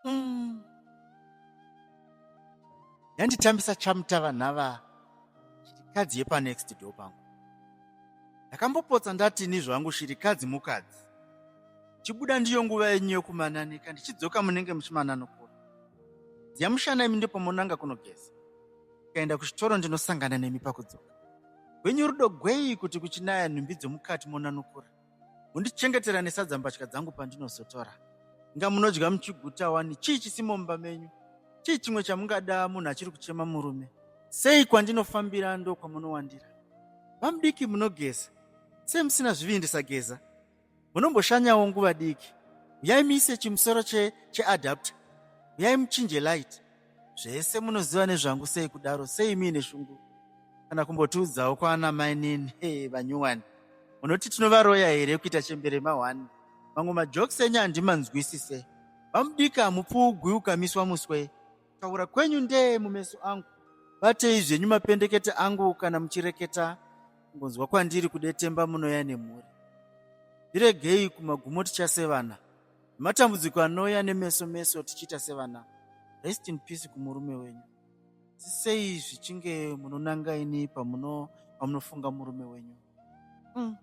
mm. yanditambisa chamutava nhava shirikadzi yepanext door pangu ndakambopotsa ndati ni zvangu shirikadzi mukadzi chibuda ndiyo nguva yenyu yokumananika ndichidzoka munenge muchimananokura dziyamushana imi ndipo monanga kunogeza ukaenda kuchitoro ndinosangana nemi pakudzoka gwenyu rudo gwei kuti kuchinaya nhumbi dzomukati monanukura mundichengetera nesadza mbatya dzangu pandinozotora inga munodya muchiguta wani chii chisimo mumba menyu chii chimwe chamungada munhu achiri kuchema murume sei kwandinofambira ndo kwamunowandira vamudiki munogeza sei musina zvivindi sageza munomboshanyawo nguva diki uyai muise chimusoro cheadapta che uyai muchinje light Zvese munoziva nezvangu sei kudaro sei muine shungu kana kumbotiudzawo kwaana mainini hey, vanyuwani munoti tinovaroya here kuita chembere mahwani mamwe majokes enyu handimanzwisise vamudika mupfuugwi ukamiswa muswe taura kwenyu ndee mumeso angu batei zvenyu mapendekete angu kana muchireketa ngonzwa kwandiri kudetemba munoya nemhuri ndiregei kumagumo tichasevana Matambudziko anouya nemeso meso tichiita sevana. Rest in peace kumurume wenyu. Asi sei zvichinge munonanga ini pamuno pamunofunga murume wenyu? Mm.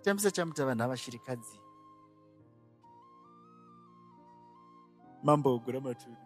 Tambisa chamuta vanhu avashirikadzi. Mambo ogura maturu.